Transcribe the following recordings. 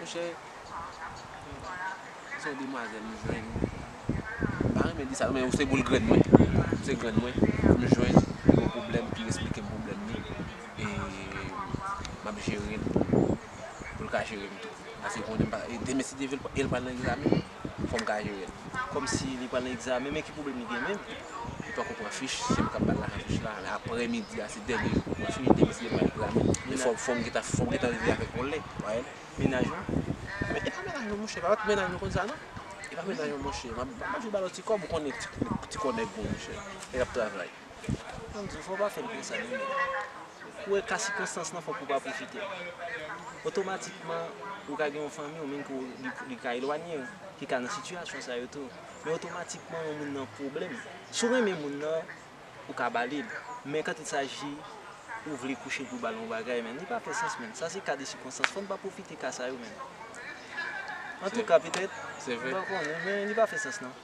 Monchè, se yon demwazèl m jwenn. M pa renmen di sa non men se boul grenn mwen. Se grenn mwen m jwenn ki gen yon pwoblèm ki esplike m pwoblèm li e m ap jere l pou l ka jere m tou. Paske konnen m pa, demen si Dye vle e l pral nan egzamen. Fò m ka jere l. Kòmsi li pa nan egzamen men ki pwoblèm li gen menm? Li pako pran fich, se m k ap ba l lajan fich la. Lè aprè midi a se dènye jou pou l pran fich, demen se li pral egzamen. Men fò m gentan rive avè l olè. Ou wè l? Mennaj mwen? Men e pa mennaj mwen monchè, pa mèt mennaj mwen konn sa non. E pa mennaj mwen monchè. M ap toujou ba l yon ti kòb, ou konnen ti kò nèg bon monchè. Lè l ap travay. An di w fò w pa fè l konsa non men. Ou wè ka sikonstans lan fò pou w pa pwofite l. Otomatikman ou ka gen yon fanmi w menm ke li ka elwanye w ki ka nan sitiyasyon sa yo tou. Men otomatikman yon moun nan pwoblèm. Si w renmen moun nan ou ka ba li l. Men kant il saji ou vle kouche pou w ba l yon bagay menn li pa fè sans menn. Sa se ka de sikonstans. Fò n pa pwofite ka sa yo menn. Antouka petèt, mwen pa konnen men li pa fè sans non.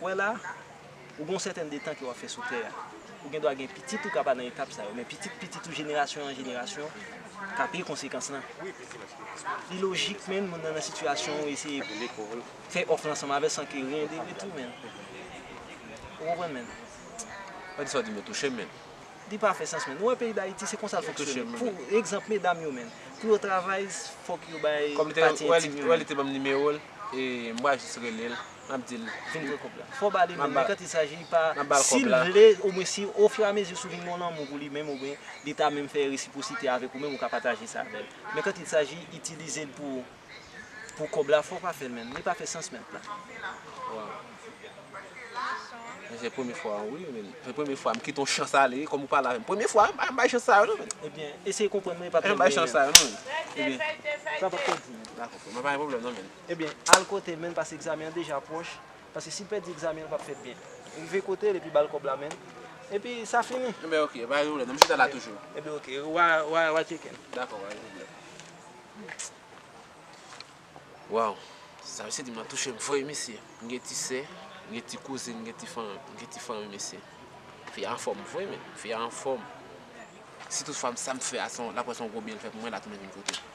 Ou wè la, ou gen yon sèten de tan ke wap fè sou tè a. Ou gen dwa gen pitit ou ka pa nan etap sa yo, men pitit pitit ou jenerasyon an jenerasyon ka peye konsekans lan. Li lojik menn moun nan nan sitiyasyon ou eseye fè òf lan ansanm avè san ke ryen de retou menn. Ou konprann menn? Pa di sa w di men touche m menn. Li pa fè sans menn. Ou wè peyi Dayiti se konsa l fonksyone. Pou egzanp medam yo menn. Pou yo travay fòk yo bay pati entim yo menn. Ou wè li te banm nimewo l e m pral jis rele l. Map dil vin pran kob la. Fo bali menm men kan ti saji pa sil vle ou mwen si o fur a mezi sou vin gon lanmou pou li menm ou mwen li ta menm fè resiprosite avek ou menm ou ka pataje sa avèl men kan ti saji itilizel pou pou kob la fo pa fèl menm li pa fè sans menm nan. Waw se premye fwa an wi men se premye fwa m kite yon chans ale wi kom ou pale avèm premye fwa m bay chans sa yo non men ebyen eseye konprann mwen epa plenyen an ebyen sa pap pèdi m dako frè m pa gen pwoblèm non men. Ebyen al kote menn paske egzamen an deja pwòch paske sil pèdi egzamen an pap fèt byen rive kotel epi bal kòb la menn epi sa fini. Ebyen ok pa gen pwoblèm nap chita la toujou. Ebyen ok wa tcheken. Dakò pa gen pwoblèm. Waww sa misye dim lan touchem vre wi mesye m gen ti sè m gen ti kouzin m gen ti fanmi m gen ti fanmi mesye fi a anfòm vre menn fi a anfòm si tout fwa m sa m fè a lap wè son gwo byen l fè pou mwen lap tounen vin kote m.